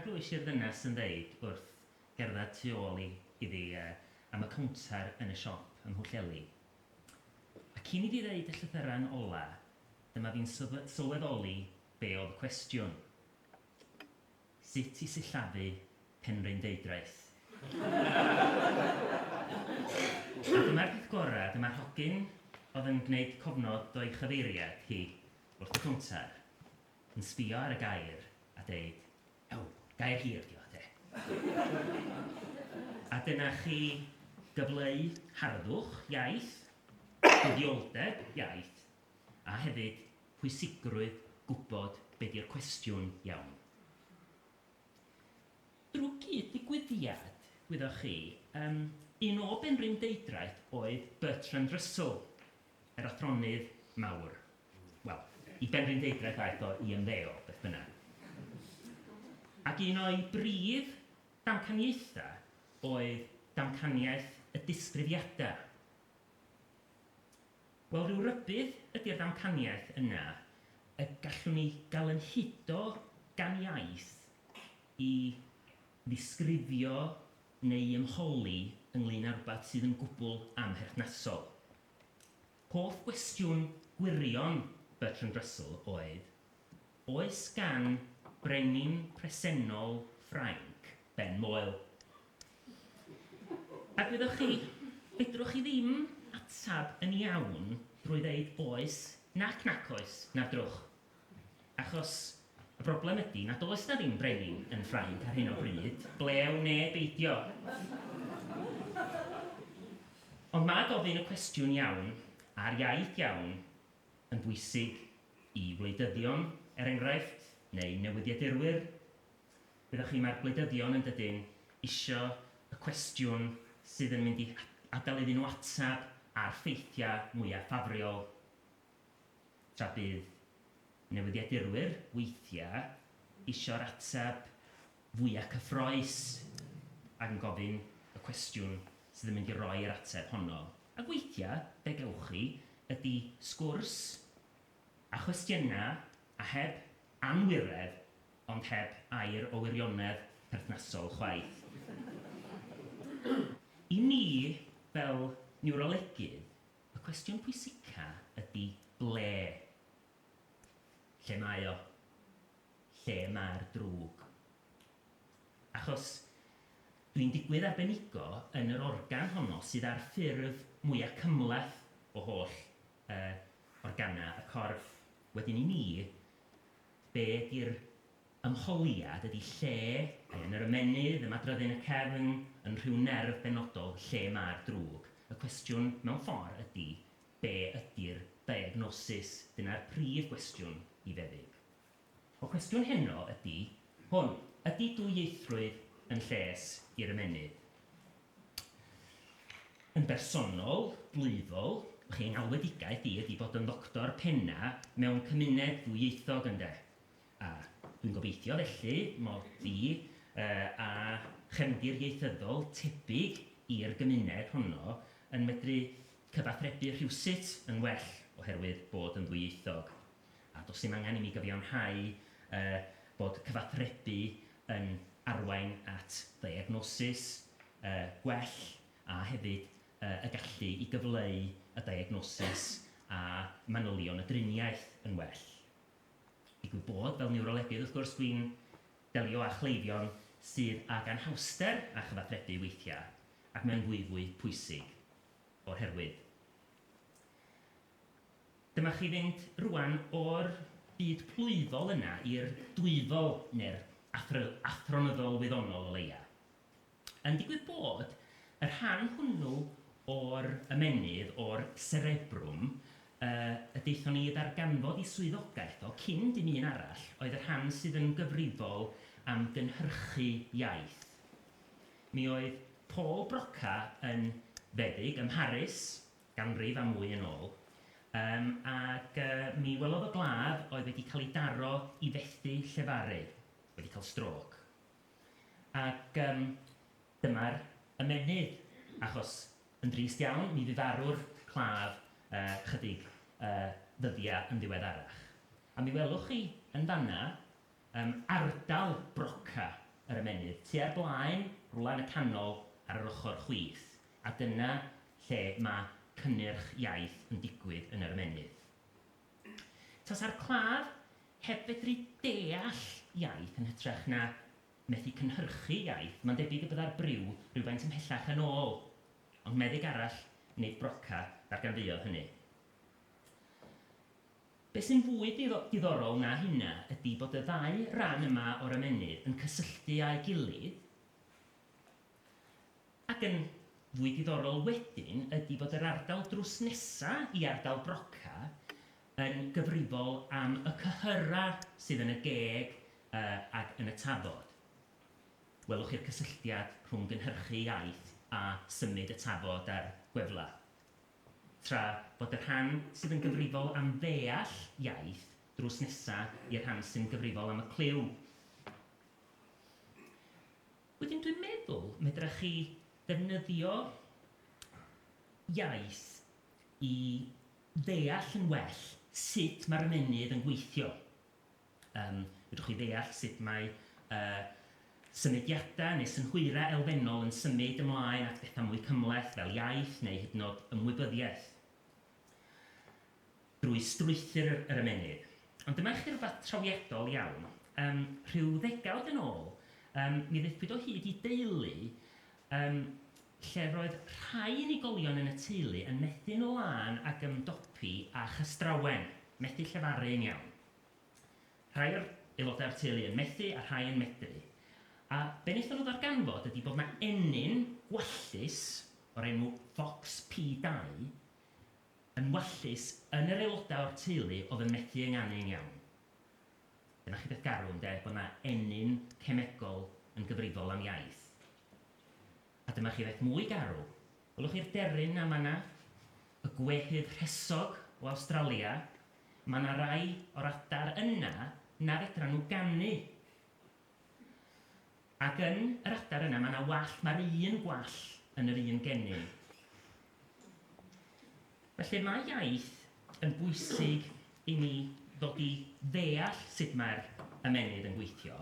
glywais i'r ddynes yn dweud wrth gerdded tu ôl i, iddi, uh, am y cownter yn y siop ym Mhwllheli. A cyn i fi ddeud y llythyren ola, dyma fi'n sylweddoli be oedd y cwestiwn. Sut i sillafu Penrhyn Deudraeth. A dyma'r peth gorau, dyma'r hogyn oedd yn gwneud cofnod o'i chyfeiriad hi wrth y cownter, yn sbio ar y gair a deud, Ew, gair hir ydy o, ynde? A dyna chi gyfleu harddwch iaith, buddiolldeb iaith, a hefyd pwysigrwydd gwybod be di'r cwestiwn iawn. Drwy gyd digwyddiad, gwyddoch chi, yym, un o benrhyndeudraeth oedd Bertrand Russell, Yr athronydd mawr. Wel, i Benrhyndeudraeth aeth o i ymddeol, beth bynnag. Ac un o'i brif damcaniaethau oedd damcaniaeth y disgrifiadau. Wel, rhyw rybudd ydi'r ddamcaniaeth yna y gallwn ni gael yn hudo gan iaith i ddisgrifio neu ymholi ynglŷn â rhywbeth sydd yn gwbl amherthnasol. Hoff gwestiwn gwirion Bertrand Russell oedd, Oes gan brenin presennol Ffrainc ben moel? A gwyddoch chi, fedrwch chi ddim ateb yn iawn drwy ddeud oes nac nac oes na'r drwch. Achos y broblem ydi na does 'na ddim brenin yn Ffrainc ar hyn o bryd, ble a wnê beidio. Ond ma' gofyn y cwestiwn iawn a'r iaith iawn yn bwysig i wleidyddion, er enghraifft, neu newyddiadurwyr. Wyddoch chi, ma'r gwleidyddion yn dydyn, isio y cwestiwn sydd yn mynd i adael iddyn nhw atab a'r ffeithiau mwya ffafriol. tra bydd newyddiadurwyr weithiau isio'r ateb fwya cyffroes ac yn gofyn y cwestiwn sydd yn mynd i roi yr ateb honno. Ac weithiau, be gewch chi ydy sgwrs a chwestiynau a heb anwiredd ond heb air o wirionedd perthnasol chwaith. I ni fel niwrolegydd, Y cwestiwn pwysica ydi ble? Lle mae o? Lle mae'r drwg? Achos dwi'n digwydd arbenigo yn yr organ honno sydd â'r ffurf mwya cymhleth o holl yy organa y corff. Wedyn i mi, be' ydi'r Ymchwiliad ydy lle, ai yn yr ymennydd, y madryddion, y cefn, yn rhyw nerf benodol lle mae'r drwg. Y cwestiwn, mewn ffordd, ydy, be ydy'r diagnosis? Dyna'r prif gwestiwn i feddyg. Y cwestiwn heno ydy hwn, ydy dwyieithrwydd yn lles i'r ymennydd? Yn bersonol, blwyddol, fy ngalwedigaeth i ydy bod yn ddoctor penna mewn cymuned ddwyieithog, ynde? A dwi'n gobeithio felly mod i a chefndir ieithyddol tebyg i'r gymuned honno yn medru cyfathrebu rhywsut yn well oherwydd bod yn ddwyieithog, a does dim angen i mi gyfiawnhau bod cyfathrebu yn arwain at ddiagnosis gwell a hefyd y gallu i gyfleu y diagnosis a manylion y driniaeth yn well. Digwydd bod, fel niwrolegydd, wrth gwrs, dwi'n delio â chleifion sydd ag anhawster â chyfathrebu weithiau, ac mae'n fwyfwy pwysig o'r herwydd. Dyma chi fynd rŵan o'r byd plwyfol yna i'r dwyfol, neu'r athronyddol wyddonol o leia'. Yn digwydd bod, y rhan hwnnw o'r ymennydd, o'r cerebrum, yy, y daethon ni i ddarganfod i swyddogaeth o cyn dim un arall, oedd y rhan sydd yn gyfrifol am gynhyrchu iaith. Mi oedd Paul Broca yn feddyg ym Mharis, ganrif a mwy yn ôl, yym, ac yy, mi welodd o glaf oedd wedi cael ei daro i fethu llefaru, wedi cael strôc. Ac yym dyma'r ymennydd, achos yn drist iawn, mi fu farw'r claf yy chydig yy ddyddia' yn ddiweddarach. A mi welwch chi yn fan'na yym ardal broca yr ymennydd, tua'r blaen, rwla yn y canol ar yr ochor chwith, a dyna lle ma' cynnyrch iaith yn digwydd yn yr ymennydd. Tasa'r claf heb fedru deall iaith yn hytrach na methu cynhyrchu iaith, mae'n debyg y byddai'r briw rywfaint ymhellach yn ôl. Ond meddyg arall, nid Broca, ddarganfuodd hynny. Beth sy'n fwy diddorol na hynna ydi bod y ddau ran yma o'r ymennydd yn cysylltu â'i gilydd Ac yn fwy diddorol wedyn ydi bod yr ardal drws nesa i ardal Broca yn gyfrifol am y cyhyra sydd yn y geg ag yn y tafod. Welwch chi'r cysylltiad rhwng gynhyrchu iaith a symud y tafod a'r gwefla. Tra bod y rhan sydd yn gyfrifol am ddeall iaith drws nesa i'r rhan sy'n gyfrifol am y clyw. Wedyn dwi'n meddwl medrach chi ddefnyddio iaith i ddeall yn well sut mae'r ymennydd yn gweithio. Yym, fedrwch chi ddeall sut mae yy symudiadau neu synhwyrau elfennol yn symud ymlaen at bethau mwy cymhleth fel iaith neu hyd yn oed ymwybyddiaeth. drwy strwythur yr ymennydd. Ond dyma i chi rywbeth trawiadol iawn. Yym, rhyw ddegawd yn ôl, yym, mi ddaethpwyd o hyd i deulu, yym, lle roedd rhai unigolion yn y teulu yn methu'n lân ag ymdopi â chystrawen, methu llefaru yn iawn. Rhai o'r aelodau o'r teulu yn methu a rhai yn medru. A be wnaethon nhw ddarganfod ydi bod 'na ennyn gwallus o'r enw Fox P2 yn wallus yn yr aelodau o'r teulu oedd yn methu ynganu yn iawn. Dyna chi beth garw, ynde, bod 'na ennyn cemegol yn gyfrifol am iaith. A dyma chi beth mwy garw. Welwch chi'r deryn 'na yn fan 'na? Y gwehydd rhesog o Awstralia? Ma' 'na rai o'r adar yna na fedran nhw ganu! Ac yn yr adar yna mae 'na wall, mae'r un gwall yn yr un genyn. Felly mae iaith yn bwysig i ni ddod i ddeall sut mae'r ymennydd yn gweithio.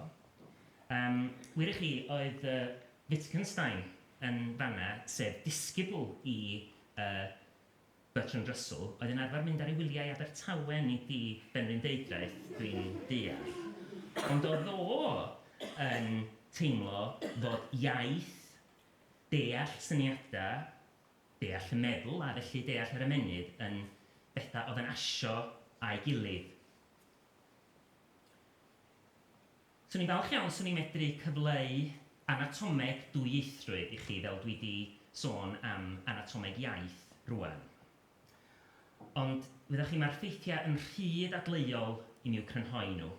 Um, wir i chi, oedd uh, Wittgenstein yn fanna, sef disgybl i uh, Bertrand Russell oedd yn arfer mynd ar ei wyliau i Abertawe, nid i Benrhyndeudraeth, dwi'n deall. Ond oedd o yn teimlo fod iaith, deall syniadau, deall y meddwl a felly deall yr ymennydd yn bethau oedd yn asio â'i gilydd. Swn i'n falch iawn 'swn i'n medru cyfleu anatomeg dwyieithrwydd i chi fel dwi 'di sôn am anatomeg iaith rŵan. Ond, wyddoch chi, mae'r ffeithiau yn rhy ddadleuol i mi i'w crynhoi nhw.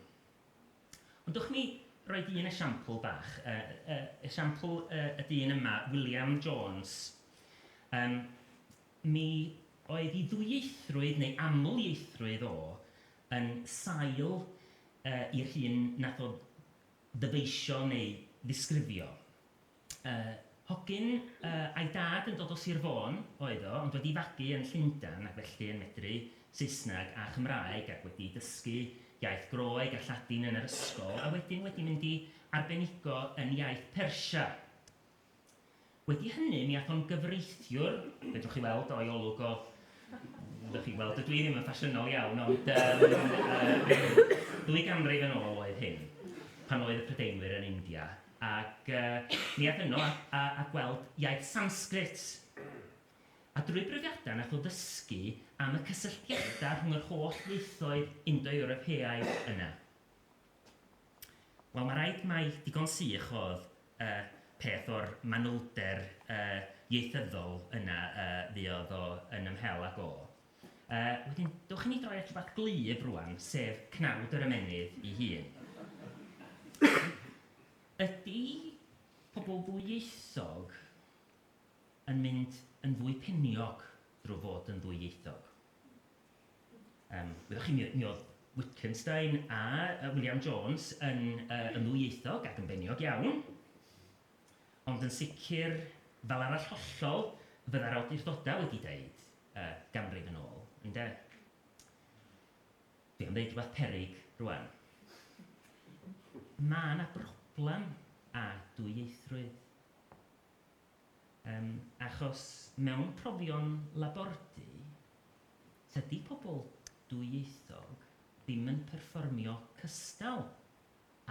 Ond dwch mi roid un esiampl bach, yy yy esiampl yy y dyn yma, William Jones. Yym, mi oedd 'i ddwyieithrwydd, neu aml-ieithrwydd o, yn sail i'r hyn nath o ddyfeisio neu ddisgrifio. Hogyn a'i dad yn dod o Sir Fôn oedd o, ond wedi fagu yn Llundan ac felly yn medru Saesneg a Chymraeg ac wedi dysgu iaith Groeg a Lladin yn yr ysgol a wedyn wedi mynd i arbenigo yn iaith Persia. Wedi hynny, mi ath o'n gyfreithiwr, fedrwch chi weld o'i olwg o, ddwch chi'n gweld, dydw i ddim yn ffasiynol iawn, ond yym ddwy ganrif yn ôl oedd hyn, pan oedd y Prydeinwyr yn India, ac yy mi ath yno a a gweld iaith Sansgrit, a drwy brofiadau nath o ddysgu am y cysylltiadau rhwng yr holl ieithoedd Indo-Ewropeaidd yna. Wel, mae'n rhaid mai digon sych oedd y peth o'r manylder ieithyddol yna fuodd o yn ymhel ag o. Wedyn, dewch i ni droi at rhywbeth glyf rwan, sef cnawd yr ymennydd ei hun. Ydy pobl ddwyieithog yn mynd yn fwy peniog drwy fod yn ddwyieithog? Yym, wyddoch chi, mi mi oedd Wittgenstein a yy William Jones yn yy yn ddwyieithog ac yn beniog iawn, ond yn sicr, fel arall hollol, fydda'r awdurdodau wedi deud yy ganrif yn ôl, ynde? Dwi am ddeud rhywbeth peryg rŵan. Ma' 'na broblem â dwyieithrwydd. Yym, achos mewn profion labordy, tydi pobl dwyieithog ddim yn perfformio cystal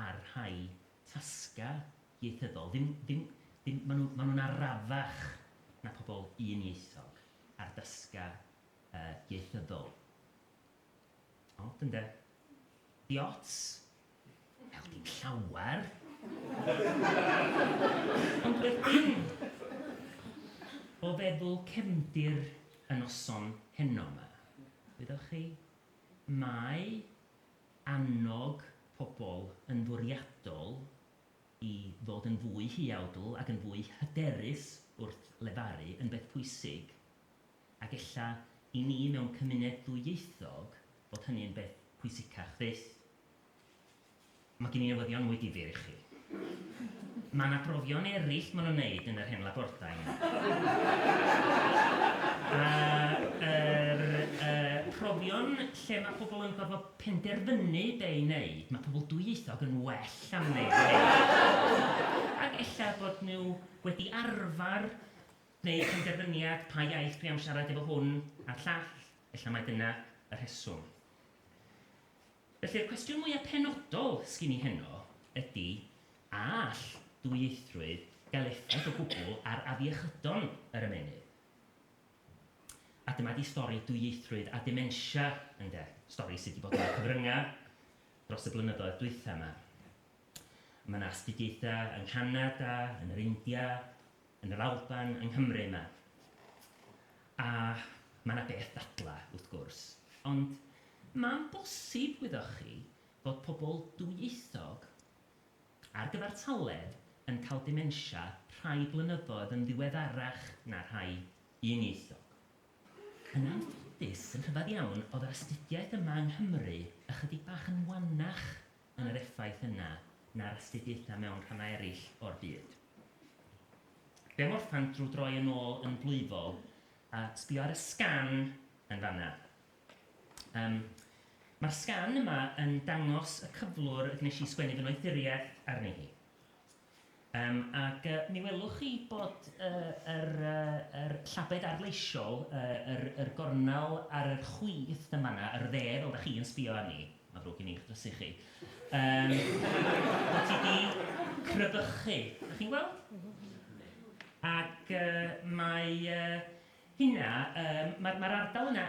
â'r rhai tasgau ieithyddol. Ddim, ddim, ddim, maen nhw, maen nhw'n arafach na pobl un-ieithog ar dasgau yy ieithyddol. Od ynde? Di ots? Wel, dim llawer. Ond beth bynnag, o feddwl cefndir y noson heno 'ma, wyddoch chi, mae annog pobl yn fwriadol i ddod yn fwy huawdl ac yn fwy hyderus wrth lefaru yn beth pwysig, Ac ella i ni mewn cymuned ddwyieithog fod hynny yn beth pwysicach fyth. Mae gen i newyddion mwy difyr i chi. Mae yna brofion eraill maen nhw'n wneud yn yr hen labordai yna. A yr yy profion lle mae pobl yn gorfod penderfynu be i wneud, mae pobl dwyieithog yn well am wneud hynny. Ac ella bod nhw wedi arfer Gwneir penderfyniad pa iaith dwi am siarad efo hwn a'r llall, ella mai dyna y rheswm. Felly'r cwestiwn mwya' penodol sgin i heno ydi, a all dwyieithrwydd gael effaith o gwbl ar afiechydon yr ymennydd? A dyma di stori dwyieithrwydd a dementia ynde, stori sy' di bod yn y cyfrynga' dros y blynyddoedd dwytha' ma'. Ma' 'na astudiaetha' yng Nghanada, yn yr India, yn yr Alban, yng Nghymru, yma. A mae 'na beth dadla, wrth gwrs. Ond ma'n bosib, wyddoch chi, fod pobl dwyieithog ar gyfartaledd yn cael dementia rhai blynyddoedd yn ddiweddarach na rhai uniaethog. Yn anffodus, yn rhyfedd iawn, oedd yr astudiaeth yma yng Nghymru ychydig bach yn wannach yn yr effaith yna na'r astudiaethau mewn rhannau eraill o'r byd. Be morffan drwy droi yn ôl yn blwyfol a sbio ar y sgan yn fanna. Um, Mae'r sgan yma yn dangos y cyflwr y gwnes i sgwennu fy noethuriaeth arni hi. Yym, ac yy, mi welwch chi bod yy yr yy yr llabed arloesol, yy yr yr gornel ar yr chwith yn fan 'na, yr dde, fel 'dach chi yn sbïo arni, ma'n ddrwg gen i 'ych drysu chi, yym, bod hi 'di crybychu, 'dach chi'n gweld? Ac yy, mae yy hynna, yym, ma'r ma'r ardal yna,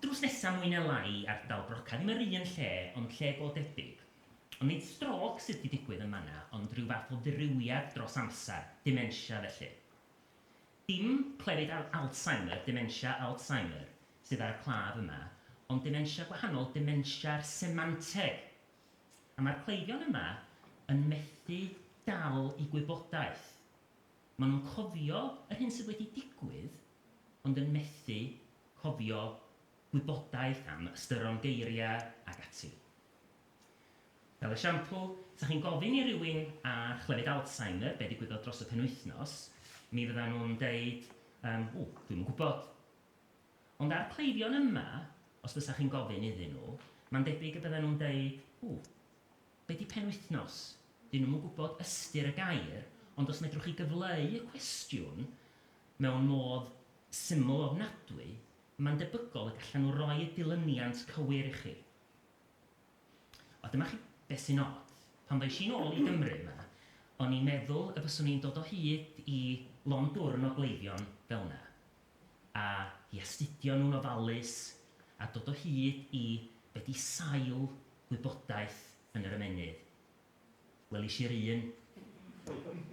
drws nesa mwy ne' lai i ardal Brocau, ddim yr un lle, ond lle go debyg. Nid strôc sydd 'di digwydd yn fan'na ond rhyw fath o ddirywiad dros amser, dementia felly. Dim clefyd Al Alzheimer, dementia Alzheimer, sydd ar y claf yma, ond dementia gwahanol, dementia'r semanteg! A mae'r cleifion yma yn methu dal i gwybodaeth. Maen nhw'n cofio yr hyn sydd wedi digwydd ond yn methu cofio gwybodaeth am ystyron geiriau ac ati. Fel esiampl, os ydych chi'n gofyn i rywun â chlefyd Alzheimer be ddigwyddodd dros y penwythnos, mi fyddan nhw'n deud, Yym, ww, dwi'm yn gwybod. Ond â'r cleifion yma, os bysa chi'n gofyn iddyn nhw, mae'n debyg y byddan nhw'n deud, Ww, be di penwythnos? Dyn nhw'm yn gwybod ystyr y gair, ond os medrwch chi gyfleu y cwestiwn mewn modd syml ofnadwy, Mae'n debygol y gallan nhw roi y dilyniant cywir i chi. O, dyma chi beth sy'n od. Pan ddois i'n ôl i Gymru yma, o'n i'n meddwl y byswn i'n dod o hyd i lond dwrn o gleifion fel yna, a i astudio nhw'n ofalus, a dod o hyd i be 'di sail gwybodaeth yn yr ymennydd. Welis i'r un.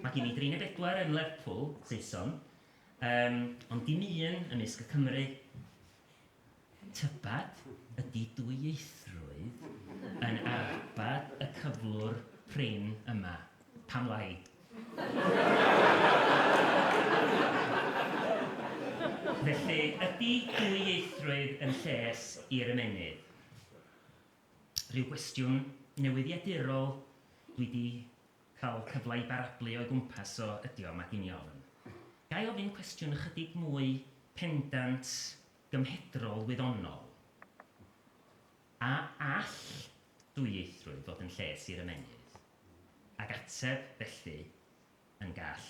Mae gen i dri neu bedwar yn Lerpwl, Saeson, yym, ond dim un ymysg y Cymry. Tybed ydy dwyieithrwydd yn arbad y cyflwr prin yma? Pam lai? Felly, ydy dwyieithrwydd yn lles i'r ymennydd? Rhyw gwestiwn newyddiadurol dwi 'di cael cyfle i barablu o'i gwmpas o ydi o, ma' gin i ofn. Ga i ofyn cwestiwn ychydig mwy pendant, gymhedrol, wyddonol? A all dwyieithrwydd fod yn lles i'r ymennydd? Ac ateb, felly, yn gall.